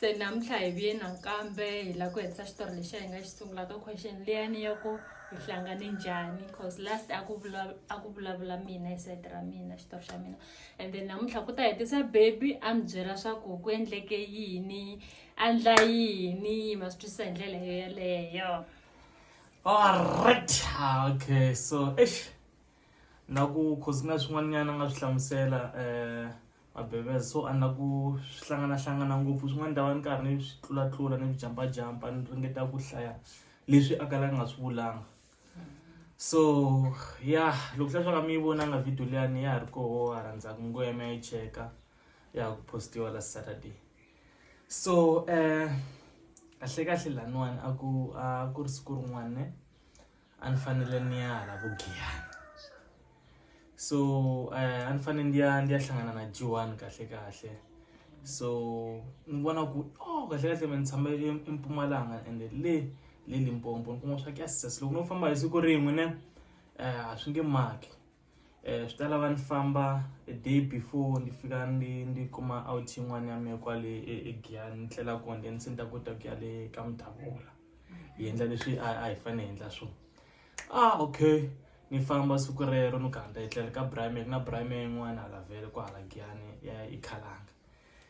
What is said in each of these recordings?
se namuntlha hi vuye nakambe hi lava ku hetisa xitori lexi a hi nga xi sungulaka question liyani ya ku hi hlangane njhani cause last a ku a ku vulavula mina hi sayiti ra mina xitori xa mina and then namuntlha ku ta hetisa baby a mi byela swa ku ku endleke yini andla yini yi ma swi twisisa hi ndlela yo yeleyo alright okay so eish na ku cause ku na swin'wanyana nga swi hlamusela um mabebeza so a na ku swi hlanganahlangana ngopfu swin'wana ni ta va ni karhi ni swi tlulatlula ni swi jampajampa ni ringeta ku hlaya leswi a kala nga swi vulanga so ya loko hla swaka mi yi vonanga video liyani ya ha ri koho ha rhandzaka ngweme ya yi cheka ya ha ku postiwa la saturday so um kahle kahle laniwani a ku a ku ri siku rin'wana ne a ni fanele ni ya hala vugiyana so um a ni fanele ndi ya ndi ya hlangana na jiwani kahle kahle so ni vona ku o oh, kahle kahle me ni tshama empumalanga ende le le limpompo ni kuma swa ku ya sesa loko no famba hi siku rin'we ne um a swi nge maki eh, swi ta lava ni famba a day before ni fika ni ni kuma out yin'wana ya mina kwale egiyani ni tlela kona then se ni ta kota ku ya le ka mudavula hi endla leswi a a hi fanele hi endla swona ah okay ni famba siku rero ni ganda hi tlela ka brime ku na brime yin'wana hala vhele ku hala giyani ya ikhalanga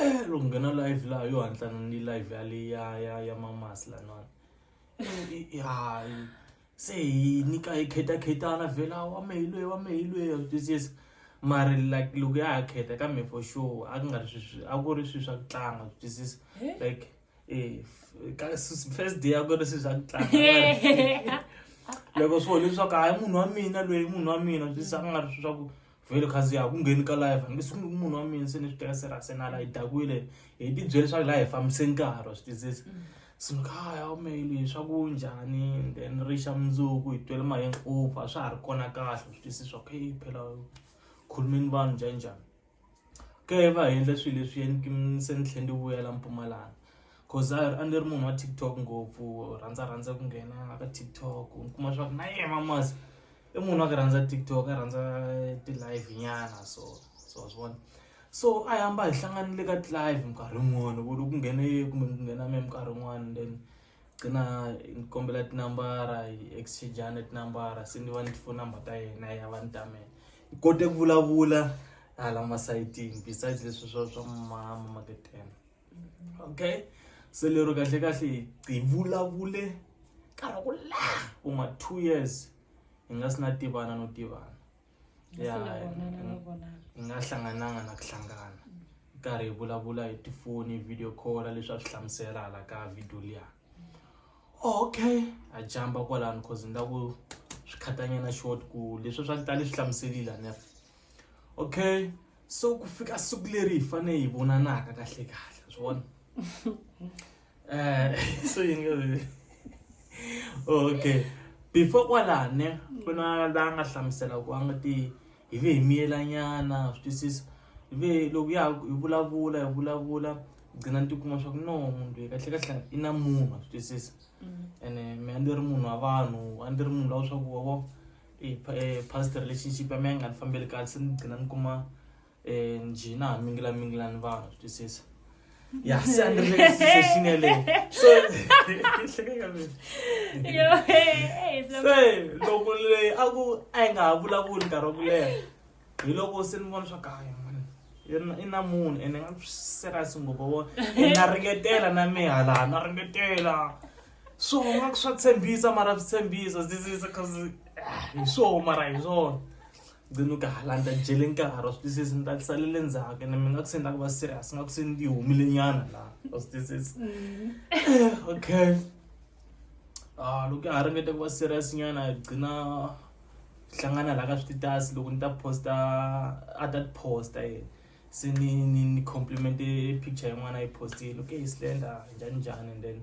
eh loko nghena live laha yo hatlana ni live ya le ya ya ya mamasi lanwani eh, hayi se hi nyika hi khetakhetana vhela wa mehe loyi wa mehe loyi a swi twisisa mara like loko ya ha kheta kambe for sure a ku nga ri swi a ku ri swilo swa ku tlanga swi twisisa eh? like eh, first day a ku ri swilo swa ku tlanga loko swo leswaku hayi munhu wa mina loyi munhu wa mina swi twisisa a ku nga ri swilo swa ku vhele khazi ya ku ngheni ka live hambi siku ni munhu wa mina se ni swi teka serase na la yi dakwile hi ti byele leswaku la hi fambise nkarhi wa swi tizisa mm. so ni kha ya umeyili swa ku njhani then ri xa mundzuku hi twele maheng over swa ha ri kona kahle swi twisisa swa ku hey phela khulumeni vanhu njhani njhani ke va endla swilo leswi yeni se ni tlhe ndi vuyela mpumalanga cause a ni ri munhu wa tiktok ngopfu rhandza rhandza ku nghena ka tiktok ni kuma swa ku na yena mamasi i munhu wa ku rhandza tiktok a rhandza ti-live nyana so so wa swi vona so a hamba hi hlanganile ka ti-live minkarhi yin'wani ku loko ku nghene kumbe ku nghena me minkarhi yin'wani then qina ni kombela tinambara hi exchangeana tinambara se ni va ni tifoni number ta yena ya va ni ta mina hi kote ku vulavula hala masayitini besides leswi swa swa mama maketela. okay se lero kahle kahle hi vulavule karhi ku laha ku nga two years hi nga si na tivana no tivana ya hi nga hlangananga na ku hlangana karhi hi vulavula hi tifoni video call leswi a swi hlamusela hala ka video liya okay a jamba kwalano cause ni la ku swi khatanyana short ku leswi swa tale swi hlamuselile nef okay so ku fika siku leri hi fane hi vonanaka kahle kahle swi vona eh so yini ka okay before kwalane ku na la nga hlamusela ku a nga ti hi ve hi miyelanyana swi twisisa hi ve loko ya hi vulavula hi vulavula gcina ni tikuma swa ku no munhu loyi kahle kahle i na munhu swi twisisa mm. ene mina ndi ri munhu wa vanhu a ndi ri munhu lawa swa ku wavo past relationship ya mina yi nga ni fambeli kahle se ni gcina ni kuma um njhina ha mingilamingila ni vanhu swi twisisa ya se a ni ri le situation yeleyo so hlekeka mina Yo, hey, hey, it's se loko leyi a ku a yi nga ha vulavuli nkarhi wa ku leha hi loko se ni vona swa kahle i na munhu ene nga serious ngopfu wo na ringetela na mihalana na ringetela swona ku swa tshembisa mara swi tshembisa zizisa cause ah, hi swoho mara hi swona gcina ka hala ni ta jele nkarhi wa swi twisisi ni ta salele ndzhaku ni mi nga ku se ni ta ku va serious nga ku se ni humile nyana laha wa swi twisisi mm. eh, okay ah loko ya ha ringete ku va serious nyana gcina hlangana laha ka swititasi loko ni ta posta a ta posta ye se ni ni ni compliment picture yin'wana yi postile okay slender njhani njhani and then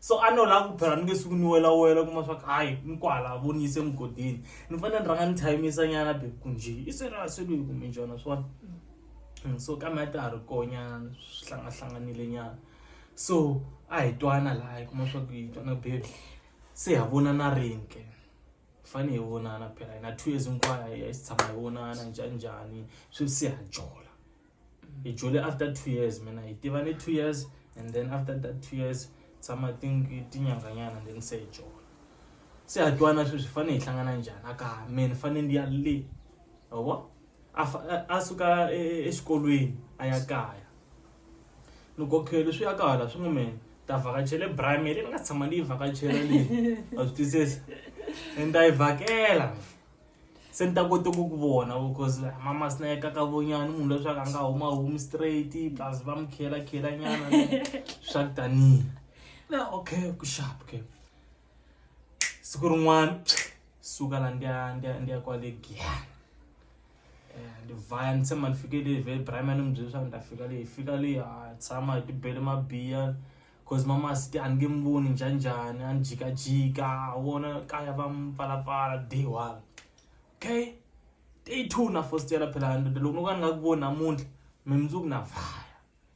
so a no lava ku phela ni nge suku ni welawela kuma swa ku hayi ni kwala vo ni yise mugodini ni fanele ni rhanga ni thayimisa nyana be ku nje i se ra se loyi kumbe njhana swona mm, so kambe a ta ha ri konyana swi hlangahlanganile nyana so a hi twana laha hi kuma swa ku hi twana bebe se ha vona na rini ke fane hi vonana phela hina two years hinkwayo hi si tshama hi vonana njhaninjhani swi se ha jola hi jule after two years mina hi tivane two years and then after that two years tshama tinyanganyana then se hi jola se ha twana sweswi fane hi hlangana njhani a ka me ni fane ndi ya le yabo a suka e, e, exikolweni a ya kaya ni kokheli swi ya kahala swi n'wi mina ta vhakachele brime leyi ni nga tshama ni yi vhakachela leyi a swi twisisa and ta yi vhakela se ni ta kota ku ku vona because mama sina ya kakavonyana munhu leswaku a nga huma humi straight plus va mi khela khela nyana swa ku tanihi na okay ku sharp ke siku rin'wana suka la ndi ya ndi ya ndi ya kwale giyani eh, ndi vaya ni tshemba ni fike le vhe primary ni mi byele leswaku ni ta fika leyi fika leyi a tshama hi tibele mabiya cause mama siti a ni nge mi voni njhanjhani a ni jikajika wona kaya va mi pfalapfala day one okay day two na fostela phela ndoda loko no ka ni nga ku voni namuntlha mi mundzuku na vaya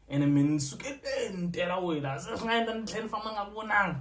ene mi ni suketeni tela wena se swi nga endla ni tlhela ni famba nga ku vonanga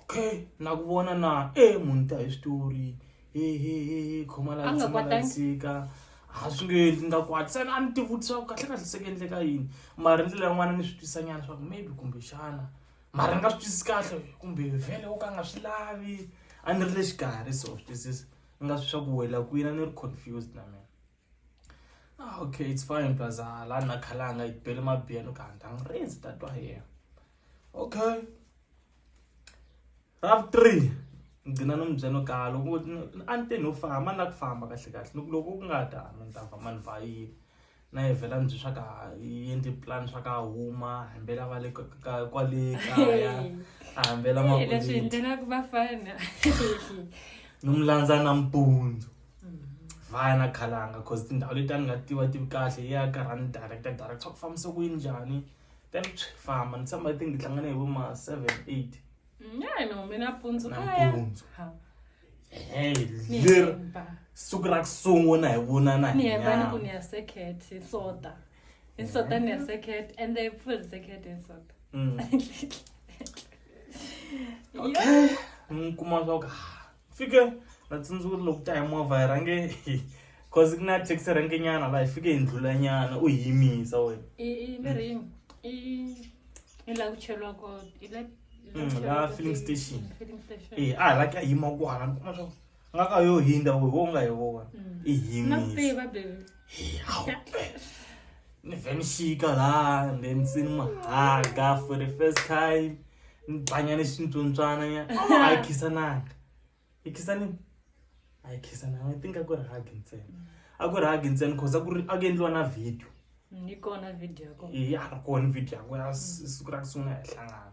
okay na ku vona na e munhu ta hi switori hehehe khoma la tshama la dzika a swi nge endli nga kwati sani a ni tivutisa ku kahle kahle seke endleka yini mara ndlela yin'wana ni swi twisanyana swa ku maybe kumbexana mara ni nga swi twisisi kahle kumbe vhele wo ka nga swi lavi a ni ri le xikarhi so swi twisisa ni nga swi swa ku wela kwini a ni ri confused na mina Ah, okay it's fine baza la na khalanga yi bele mabiyelo ka ndang rezi ta twa yena okay rav 3 ngcina no mbyeno ka loko a ni te no famba na ku famba kahle kahle loko loko ku nga ta ni ta famba ni va yi na yi vhela ni byi swa ka yendli plan swa ka huma hambela va le ka kwale kaya hambela makuleti leswi ndlela ku va fana no mu landza nampundzu vaya na khalanga cause tindhawu leti a ni nga tiva tivi kahle yi ya karhani director director ku fambisa ku yini njhani then swi famba ni tshemba i think hi hlangane hi vo ma seven eight Mm, ya no mina pundzu kaya nampundzu Ha, hey ni leri hemba. siku ra ku sungula hi vonana ni hi hemba ni ku ni nyama ya second hi sota hi sota ni ya second and then full second hi sota Mm. okay ni kuma swa ku ah, fike ndatsundzuka loko ta hi movha hi rhange cause ku na taxi range nyana laha hi fike hi ndlula nyana u yimisa wena laha filling station e a hi la ka yima kwana ni kuma swa nga ka yo hindza wo wo nga hi vona i yimisa ni vhe ni xika laha and then se ni n'wi haga for the first time ni banya ni xintswontswana ya a yi khisananga yi khisanini a yi khisananga i think a ku ri hagi ntsena a ku ri hagi ntsena cause a ku ri a ku endliwa na video ni kona video ya kona i a ri kona video ya kona siku ra ku sungula hi hlangana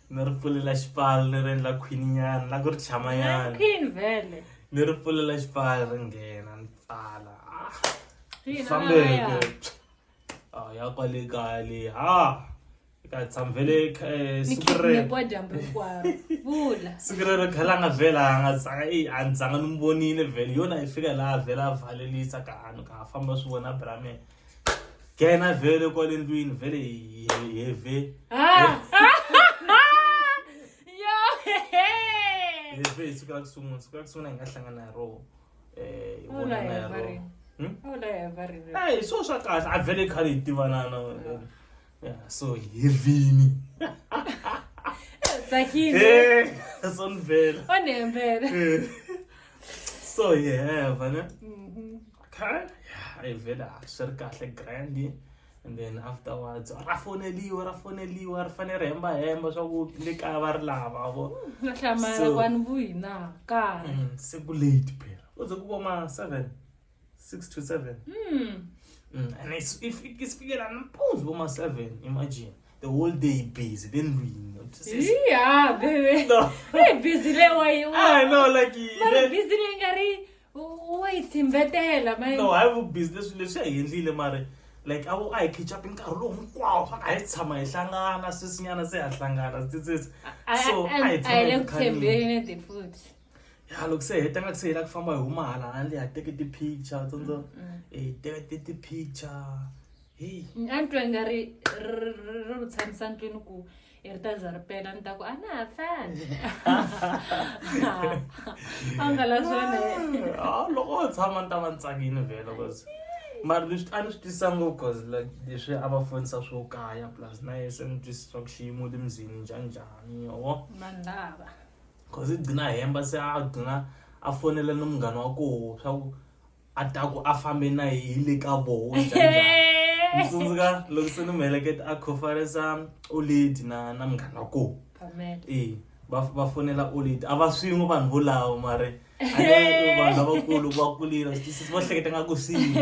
ni ri pfulela xipfalo ni ri endla khwininyana la ku ri chamanyana queen vele ni ri pfulela xipfalo ri nghena ni pfala ah, Ina, fambeke ya. Ah, ya kwale kaya leyi ha yi ka tshamvele eh, ni siku rero kidnapiwa dyambu hinkwaro vula siku rero khela nga vhela a nga tsanga eyi a ni tsanga ni mi vonile vhele yona yi fika laha vhela a valelisa ka hanu ka ha famba swi vona bramela kena vhele kwale ndlwini vhele heve heve hi siku ra kusungula siku ra kusungula hi nga hlangana hi roho um hi vonana hi roho hi swo swa kahle a vhele khale hi tivanana so hi vini tsakile so ni vhele so hi heva ne Okay, I vele swi ri kahle grand and then afterwards ra foneliwa ra foneliwa ri fanele ri hemba hemba swa ku le kaya va ri lava vo na hlamala So- kwani vuhina kaya Mm, se ku late phela u ze ku va ma seven six to seven Mm. Mm, and it's- if isifikela nampundzu vo ma seven imagine the whole day busy then ndlwini iya bebe No. i busy lewayiwa I know, like, Mara le- busy leyi nga ri wa yi thimbetela no hayi vubizi leswi leswi hi endlile mari like a a hi khichapi nkarhi lowu hinkwawo swa a hi tshama hi hlangana swisinyana se ha hlangana titsitsi so a hi tshamaekhambeni futhi ya loko se heta nga ku se hela ku famba hi huma hala handle ha teke ti-picture tsondzo hi teka ti ti-picture heyi a ni twa nga ri ri ri ri tshamisa ndlwini ku i ri ta za ri pela ni ta ku a na ha fani a nga la swona ah, loko o tshama ni ta va ni tsakile vhela bcause mara leswi a ni swi twisisa ngopfu bcause like leswi a va fonisa swo kaya plus na ye se ni twisisa ku xiyimo le mzini njhani njhani yovo vanhu lava bcause i gcina hemba se a gcina a fonela ni munghana wa koho swa ku a ta ku a fambe na hi le ka voho ni tsundzuka loko se ni mu heleketa a conference oledi na na munghana wa kona e va va fonela oledi a va swin'we vanhu volawo mare vanhu lavakulu va kulile swisisi va hleketa nga ku swini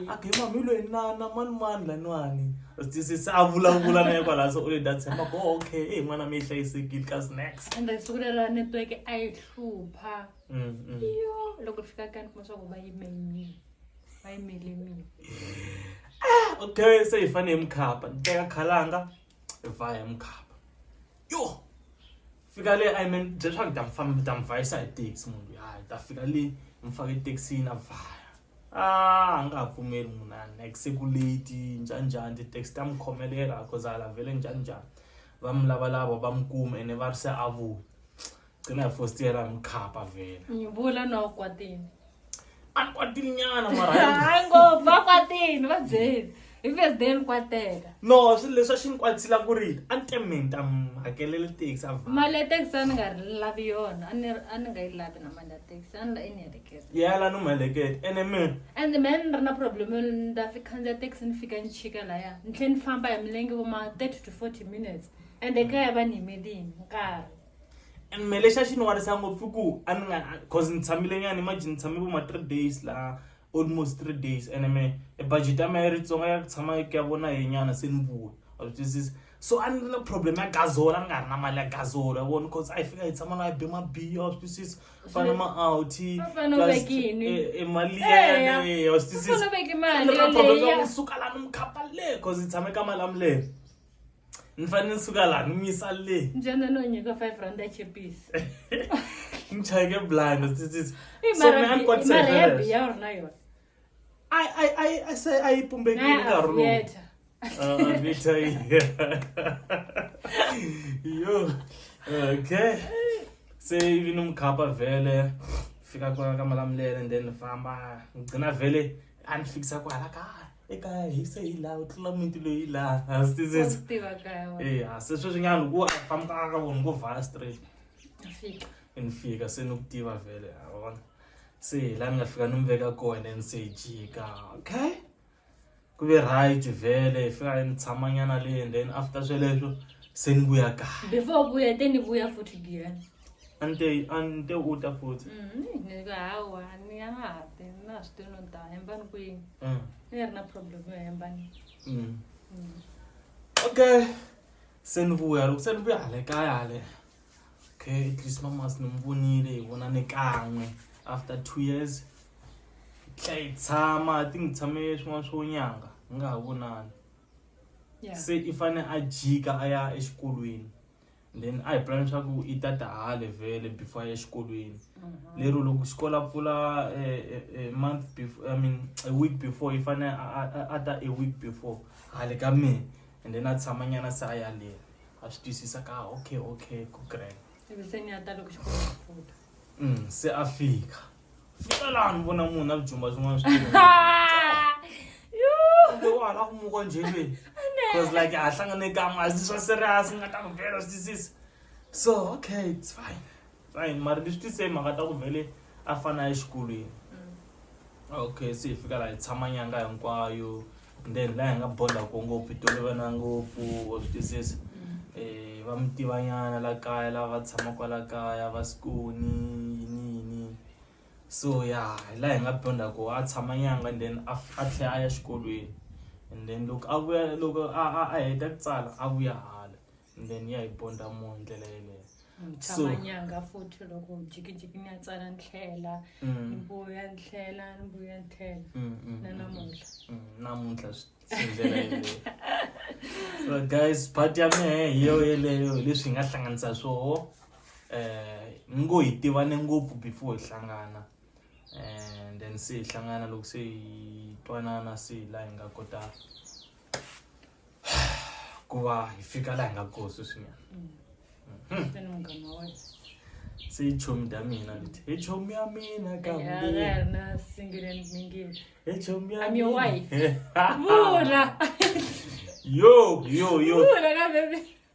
a ke mami hi loyi na na mani mani laniwani swisisi a vulavula na ye kwalaho se oledi a tshemba ko okay e n'wana mi yi hlayisekile ka snacks ende siku lero network a yi hlupha mm, mm. yo loko fika kani kuma swa ku va yimenyini va yimele mina ah, okay se hi fane hi mukhapa ni teka khalanga hi va hi mukhapa yo fika le i mean bye swa ku ta mfamba ta mvayisa hi taxi munhu ya ta fika le mfaka etaxini a vaya ah a nga ha pfumeli munhu a like se ku late njhani njhani ti-taxi ta mi khomelela cause a lavele njhani njhani va mi lavalava va mi kuma ene va ri se a vuya gcina yafostiyela mkhapha vele ngibula nokwatini andikwatini nyana marahayi ngopfu vakwatini va byeli hi vesdale kwateka no swilo leswi a xi ni kwatsila ku ri a ni tementa hakelele taxi a mali ya taxi a ni nga ri lavi yona a ni a ni nga yi lavi na mali ya taxi a ni la i ni heleketa yala ni mu heleketa ene me ende me ni ri na problem yo ni ta fi khandziya taxi ni fika ni chika laya ni tlhe ni famba hi milenge vo ma thirty to forty minutes ende kaya va ni yimelini nkarhi and me lexi a xi ni warisa ngopfu ku a ni nga cause ni tshamile nyana imagine ni tshame vo ma three days laha almost three days and me e budget ya mina yi ri tsonga ya ku tshama ku ya vona hi nyana se ni vuya wa swi twisisa so a ni ri na problem ya gazola ni nga ri na mali ya gazola vona cause a yi fika yi tshama na yi be mabiya wa swi twisisa fana ma-outy U fanele u plus, veke yini? eh, eh, mali Eya. yaleyo wa swi U fanele u veke mali twisisa yaleyo. suka la ni mukhapa le cause yi tshame ka mali ya milele ni fanele ni suka laha ni mi yisa le njana no nyika five rand achipisi ni chayeke blind tsitsitsi so mina ni kwatisa hi sweleswo. marabiya uri na yona I I I I say I pumbekile Naya nkarhi lowu. avieta Ah, Vita iya. Yo. Okay. Se ivi ni mukhapa vele fika kona ka malamulele and then ni famba ngigcina vele a ni fikisa kwala kaya. ekaya hi se hi laha u tlula muti loyi laha hansi tizetso eya se sweswi nyana loko a fambaka ka vona ngo vhala straight ni fika se ni ku tiva vhele a vona se hi laha ni nga fika ni mi veka kona ni se hi jika okay ku ve right vhele hi fika ni tshamanyana le and then after sweleswo se ni vuya kaya before vuya te ni vuya futhi biyani a ni te a ni te u ta futhi Mm, ni- ni ku hawa ni ya nga ha ti na swi tivi no ni ta hembani kwini Mm, ni nga ri na problem yo hembani mm. Mm. okay se ni vuya loko se ni vuya hale kaya hale okay at least mamas ni mi vonile hi vona ni kan'we after two years hi tlhe hi tshama ti ni tshame swin'wana swo nyanga hi nga ha vonani Yeah. se i fane a jika a ya exikolweni then a hi pulani swa ku i tata hale vhele before ya exikolweni mhm. lero loko xikolo a pfula eh, eh, eh, month before i mean a week before i fanele a ta a week before hale ka mina and then a tshamanyana se a yaleni a swi twisisa ka ah, okay okay ku grand mm, se a fika fika laha ni vona munhu na bijumba swin'wana swi kumbe wa hala ku muka njhelweni because like a hlangane kan'we a swi swa serious nga ta ku vela swi twisisa so okay it's fine fine mara ni swi tise mhaka ta ku vele a fana exikolweni okay se hi fika laha hi tshama nyanga hinkwayo then laha hi nga bond-a kona ngopfu hi tolovana ngopfu wa swi twisisa va mi tiva nyana la kaya lava tshamaka kwala kaya va Skoni yini yini so ya hi laha hi nga bond-a kona a tshama nyangha then a a tlhela a ya exikolweni and then loko a vuya loko a a a heta ku tsala a vuya hala. and then ya hi ponda mo hi ndlela yeleyo tshama nyanga futhi loko jikijiki ni ya tsala ndlela mm. ni vuya ndlela ni vuya ndlela mm, mm, na namuntlha namuntlha ndlela yeleyo so guys part ya mehe hi yo yeleyo hi leswi hi nga hlanganisa swoho um eh, ni ngo hi tivane ngopfu before hi hlangana and eh, then se hi hlangana loko se hi twanana se hi laha hi nga kota ku va hi fika laha hi nga koho sweswinyana hmm. se yi chomi ta mina leti hi chomi ya mina kambihichomiyaminamina yo yo yo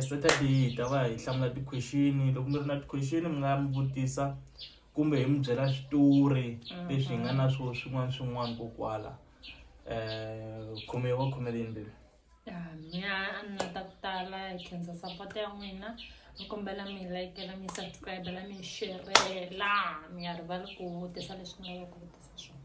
Strategy hi ta va hi hlamula ti-question loko mi ri na ti-question mi nga mi vutisa kumbe hi mi byela switori mhm. leswi hi nga na swo swin'wana swin'wana ko kwala um khome wa khomeleni bebi mina a ni nga ta ku tala hi khensa support ya n'wina ni kombela mi layikela mi subscribela mi xerhela mi nga rivali ku vutisa leswi mi lavaka ku vutisa swona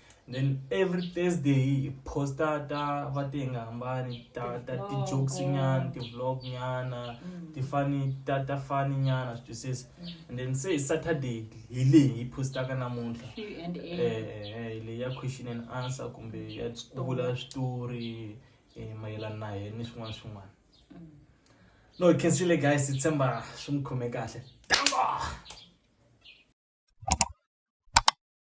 then every thursday hi posta ta va ti nga hambani ta ta ti-jokes nyana ti-vlog nyana mm. ti-funny ta ta funny nyana swi twisisa mm. and then se hi saturday hi leyi hi postaka namuntlha um leyi ya question and answer kumbe ya vula switori um mayelana na hena ni swin'wana swin'wana no hi khensile guys hi tshemba swi mi khome kahle